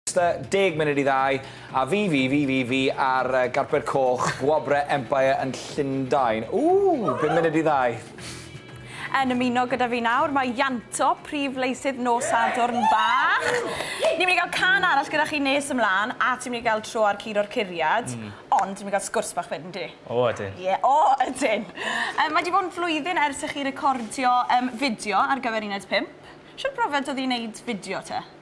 Tua deg munud i ddau, a fi, fi, fi, fi, fi ar yy garped coch Gwobre Empire yn Llundain. Ww! Bum munud i ddau. Yn ymuno gyda fi nawr mae Ianto, prif leisydd nos Sadwrn bach. Ni'n mynd i gael cân arall gyda chi nes ymlân, a ti'n mynd i gael tro ar Curo i'r Curiad, ond ti'n mynd i gael sgwrs bach wedyn, yndi? O, ydyn. Ie, o, ydyn! Yym, mae 'di bod yn flwyddyn ers i chi recordio, yym, fideo ar gyfer uned pump. Shwt brofiad o'dd 'i neud fideo te?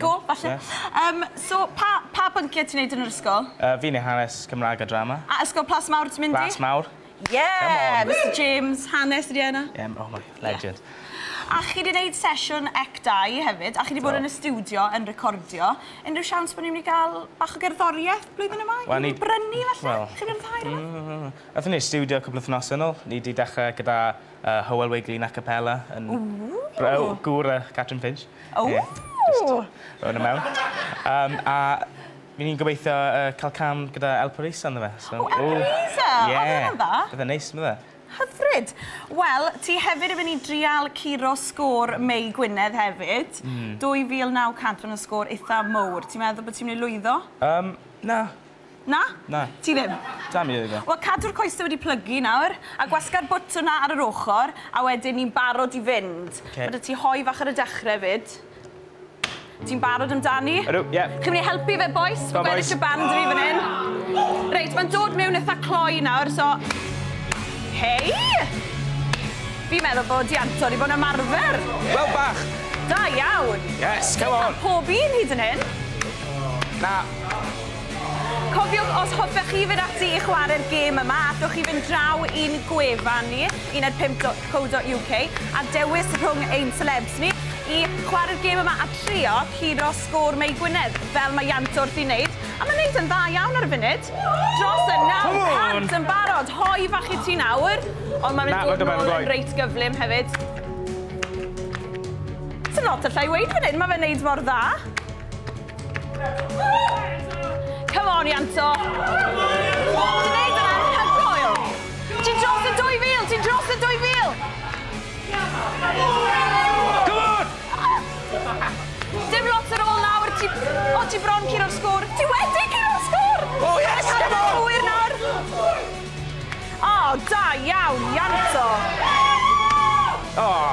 Go, falle. Yym, so, pa, pa bynciau ti'n neud yn yr ysgol? Yy, fi'n neud hanes, Cymraeg a drama. A Ysgol Plas Mawr ti'n mynd i? Plas Mawr. Ie! Come on! Mister James, hanes ydi e yna. Ie, m- oh my, legend. Ie. A chi 'di neud sesiwn ec dau hefyd, a chi 'di bod yn y stiwdio yn recordio. Unrhyw siawns bo' ni myn' i ga'l bach o gerddorieth blwyddyn yma? Wel ni... I brynu falle? Wel... Chi myn' i fwynhau rwbeth? Aethon ni i'r stiwdio cwpwl o wythnose nôl. Ni 'di dechre gyda Yy Hywel Wiglin a capella yn... Ww! Rho- o gŵr yy Catrin Finch. O! Ie. Jyst rho wnna mewn. Yym a by' ni'n gobeithio yy ca'l cam gyda El Pareeso ynddo fe so... O El Pareeso! Ie. O ma' wnna'n dda. Bydde'n neis on'd bydde? Hyfryd. Wel ti hefyd yn myn' i drial curo sgôr Mei Gwynedd hefyd. Hmm. 2900 ma' sgôr itha mowr. Ti'n meddwl bo' ti myn' i lwyddo? Yym na. Na? Na. Ti ddim? Dal i ddweud e. Wel, cadw'r coese wedi plygu nawr, a gwasga'r bwtwn 'na ar yr ochr, a wedyn ni'n barod i fynd. Ok. Ma' 'da ti hoe fach ar y dechre 'fyd. Ti'n barod amdani? Ydw, ie. Chi'n myn' i helpu fe bois? Go on bois. Fi'n gweddill y band i fi fan 'yn. Reit, ma'n dod miwn itha cloi nawr, so... Hei! Fi'n meddwl bod di anto di bod yn ymarfer. Wel, bach. Da iawn. Yes, come on. Pob un hyd yn hyn. Na. Cofiwch, os hoffech chi fynd ati i chwarae'r gêm yma, allwch chi fynd draw i'n gwefan ni, uned5.co.uk, a dewis rhwng ein celebs ni i chwarae'r gêm yma a trio curo sgôr Mei Gwynedd, fel mae Iant wrth i wneud, a mae'n wneud yn dda iawn ar y funud. Dros y 900 yn barod, hoi fach i ti nawr, ond mae'n mynd dod nôl yn reit gyflym hefyd. Sdim lot allai weud fan hyn, mae fe'n wneud mor dda. Come on, Ianto! Ti'n neud yna, hygoel! Ti'n dros y 2000, ti'n dros y 2000! Come on! Dim lot ar ôl nawr, ti... O, ti bron curo'r sgwr. Ti wedi curo'r sgwr! Oh, yes, come on! Cywir nawr. O, da iawn, Ianto! Oh!